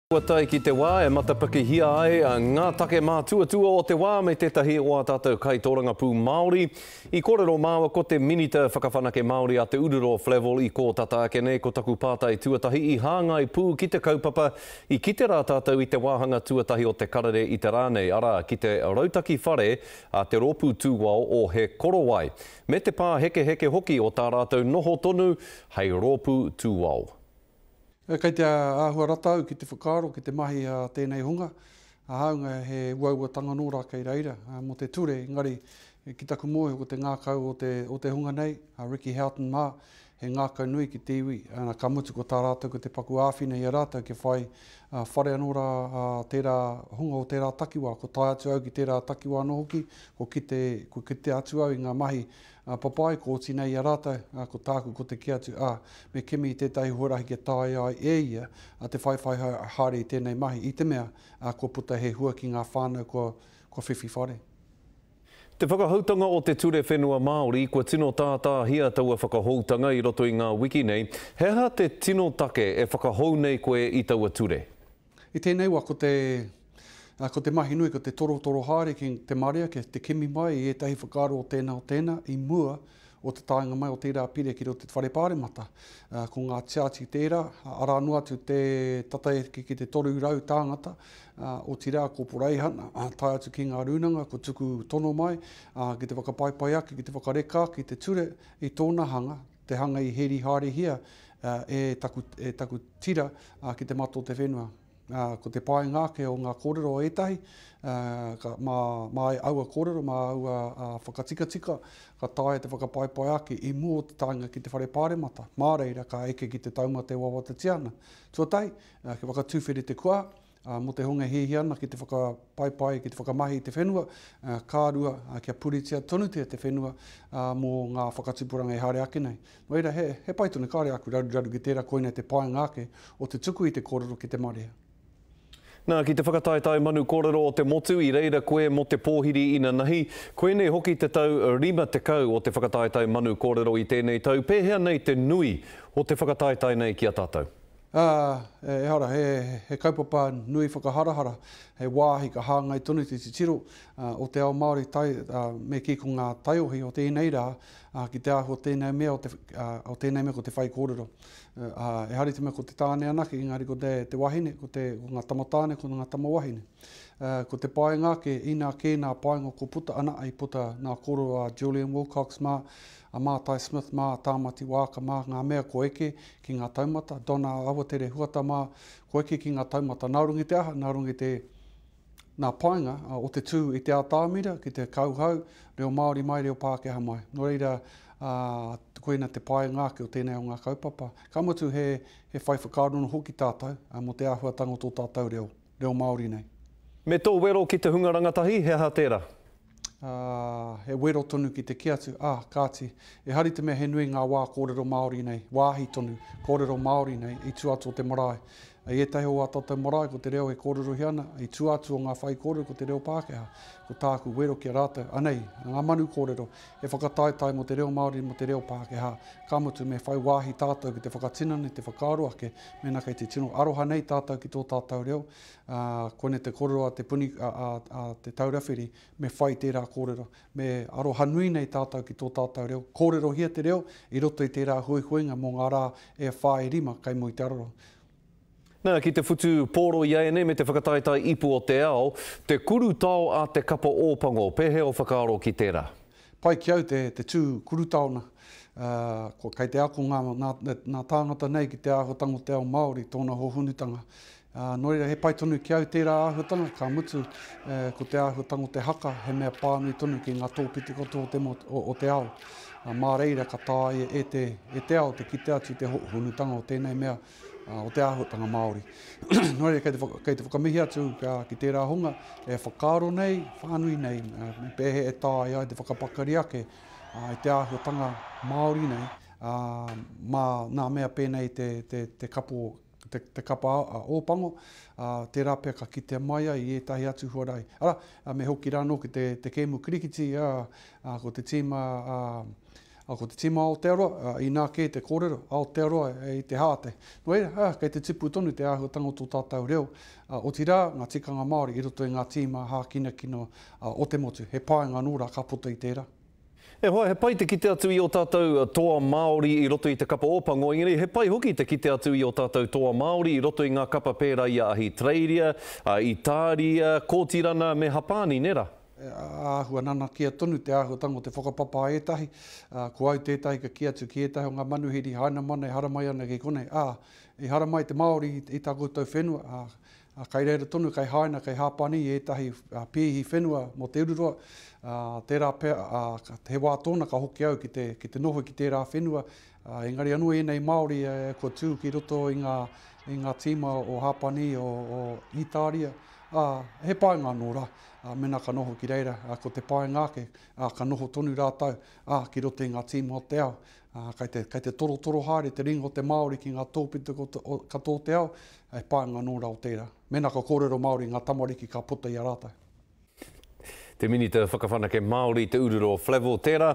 Kua tae ki te wā e matapakihia ai ngā take mātuatua o te wā me tētahi o ā tātou kaitōrangapū Māori. I kōrero māua ko te Minita Whakawhanake Māori a Te Ururo, Flavell, i kō tata ake nei ko taku pātai tuatahi i hāngai pū ki te kaupapa i kite rā tātou i te wāhanga tuatahi o te karere i te rā nei, arā, ki te rautaki whare a te Rōpū Tūao o He Korowai, me te pāhekeheke hoki o tā rātou noho tonu hei rōpū tūao. Kei te āhua rata au ki te whakaaro, ki te mahi a tēnei hunga, hāunga he uauatanga nō rā kei reira mō te ture, engari ki taku mōhio ko te ngākau o te hunga nei, a Ricky Houghton mā, he ngākau nui ki te iwi, ā, ka mutu ko tā rātou ko te paku āwhina i a rātou kia whai whare anō rā tērā hunga o tērā takiwā, ko tae atu au ki tērā takiwā anō hoki, ko kite, ko kite atu au i ngā mahi Ā, papa ai, ko Otinei i a rātou, ā, ko tāku ko te kī atu, ā, me kimi i tētahi huarahi kia taea ai e ia, ā, te whaiwhai haere i tēnei mahi, i te mea, ā, kua puta he hua ki ngā whānau kua, kua whiwhi whare. Te Whakahoutanga o te Ture Whenua Māori, Kua tino tātāhia taua whakahoutanga i roto i ngā wiki nei, he aha te tino take e whakahou nei koe i taua ture? I tēnei wa ko te ko te mahi nui ko te torotoro haere ki te marea ki te kimi mai i ētahi whakaaro o tēnā o tēnā i mua o te taenga mai o tērā pire ki roto i te whare pāremata. Ko ngā tiati tērā, arā noa atu te tata e hiki ki te 300 tāngata, otirā ko Poreihana tae atu ki ngā rūnanga kua tuku tono mai ki te whakapaipai ake, ki te whakareka ake i te ture i tōna hanga, Te hanga i heri haerehia e taku, e taku tira ki te mata o te whenua. Ko te painga ake o ngā kōrero o ētahi, ka, mā, mā aua kōrero, mā aua whakatikatika, ka taea te whakapaepae ake i mua o te taenga ki te Whare Pāremata, mā reira ka eke ki te taumate wawatatia ana. Tuatahi, kia whakatūwhiri te kua, Mō te honga e hiahia ana ki te whakapaipai, ki te whakamahi i te whenua, ka rua kia puritia tonutia te whenua mō ngā whakatupuranga e haere ake nei. Nō reira, he pai tonu, kāore āku raruraru ki tērā, koinei te painga ake o te tuku i te kōrero ki te marea. Nā, ki te whakataetae manu kōrero o te motu i reira koe mō te pōhiri inanahi. Koinei hoki te tau 50 o te whakataetae manu kōrero i tēnei tau, pēhea nei te nui o te whakataetae nei ki a tātou? Ā, ehara, he, he kaupapa nui whakaharahara, he wāhi ka hāngai tonu te titiro ā, o te ao Māori tai, ā, me kī ko ngā taiohi o tēnei rā, ā, ki te āhua o tēnei mea, o te, ā, o tēnei mea ko te whaikōrero. Ā, ehara i te mea ko te tāne anake, engari ko te, te wahine, ko te, ko ngā tamatāne, ko ngā tamawahine. Ā, ko te painga ake, inā kē nā painga ko puta ana, i puta nā koro a Julian Wilcox mā, a Mātai Smith mā, a Tāmati Waaka mā, ngā mea kua eke Ki ngā taumata, Donna Awatere Huata mā, kua eke ki ngā taumata. Nā runga i te aha? Nā runga i te, nā painga o te tū i te atamira ki te kauhau, reo Māori mai, reo Pākehā mai. Nō reira, ā, koina te painga ake o tēnei o ngā kaupapa. Ka mutu he, he whai whakaaro noa hoki tātou mō te āhuatanga o tō tātou reo, reo Māori nei. Me tō wero ki te hunga rangatahi, he aha tērā? ā, he wero tonu ki te kī atu, ā, kāti, e hari te mea he nui ngā wā kōrero Māori nei, wāhi tonu, kōrero Māori nei i tua atu o te marae. I ētahi o ā tātou marae ko te reo e kōrerohia ana, i tua atu o ngā whaikōrero ko te reo Pākehā. Ko tāku wero ki a rātou, anei, ngā manu kōrero, he whakataetae mō te reo Māori mō te reo Pākehā, ka mutu me whai wāhi tātou ki te whakatinana i te whakaaro ake mēnā kei te tino aroha nei tātou ki tō tātou reo, Ā, kone te korero a te puni, a, a, a Te Taura Whiri, me whai tērā kōrero. Me aroha nui nei tātou ki tō tātou reo. Kōrerohia te reo i roto i tērā huihuinga mō ngā rā e whā, e rima kei muri te aroro. Na, ki te whutu pōro i a enei me te whakataetae ipu o te ao, te kurutao a te kapa Ōpango, pehea o whakaaro ki tērā? Pai ki au te, te tū kurutaona. Ā, kua, kei te ako ngā, ngā, ngā tāngata nei ki te āhuatango o te ao Māori, tōna hohonutanga. Ā, nō reira, he pai tonu ki au tērā āhuatanga, ka mutu, ē, ko te āhuatanga o te haka, he mea pānui tonu ki ngā tōpiti katoa o te mo, o, o te ao. Ā, mā reira ka tāia e te, e te ao te kitea atu i te ho, honutanga o tēnei mea, ā, o te āhuatanga Māori. nō reira, kei te, kei te whakamihi atu ā, ki tērā hunga e whakaaro nei, whānui nei, ā, me pēhea e tāia ai te whakapakari ake, ā, i te āhuatanga Māori nei, ā, mā nā mea pēnei te, te, te kapo, te kapa a Ōpango, ā, tērā pea ka kitea mai ai i ētahi atu huarahi. Arā, me hoki rā anō ki te, te kēmu kirikiti, ā, ā, ko te tīma, ā, ā, ko te tīma Aotearoa, ā, inā kē te kōrero, Aotearoa i te hāte. Nō reira, ā, kei te tipu tonu te āhuatanga o tō tātou reo, ā, otirā, ngā tikanga Māori i roto i ngā tīma hākinakina, ā, o te motu. He painga anō rā ka puta i tērā. E hoa, he pai te kite atu i ō tātou toa Māori i roto i te kapa Ōpango, engari he pai hoki te kite atu i ō tātou toa Māori i roto i ngā kapa pērā i a Ahitereiria, a Itāria, Kōtirana me Hapāni, nē rā? Āhua nanakia tonu te āhuatanga o te whakapapa a ētahi, ā, ko au tētahi ka kī atu ki ētahi o ngā manuhiri hainamana e haramai ana ki konei, ā, i haramai te Māori i tā koutou whenua, ā, ā, kai reira tonu, kai Haina, kai Hāpani i ētahi pīhi whenua mō Te Ururoa, ā, tērā pea, ā, he wā tōna ka hoki au ki te, ki te noho ki tērā whenua, ā, engari anō ēnei Māori kua tū ki roto i ngā, i ngā tīma o Hāpani, o, o Ītāria, ā, he painga anō rā, ā, mēnā ka noho ki reira, ā, ko te painga ake, ā, ka noho tonu rātou, ā, ki roto i ngā tīma o te ao, Ā, kei te, kei te torotoro haere te ringa o te Māori ki ngā tōpito katoa o te ao, e pānga anō rā o tērā. Mēnā ka kōrero Māori ngā tamariki ka puta i a rātou. Te Minita Whakawhanake Māori, Te Urura o Flavell, tērā,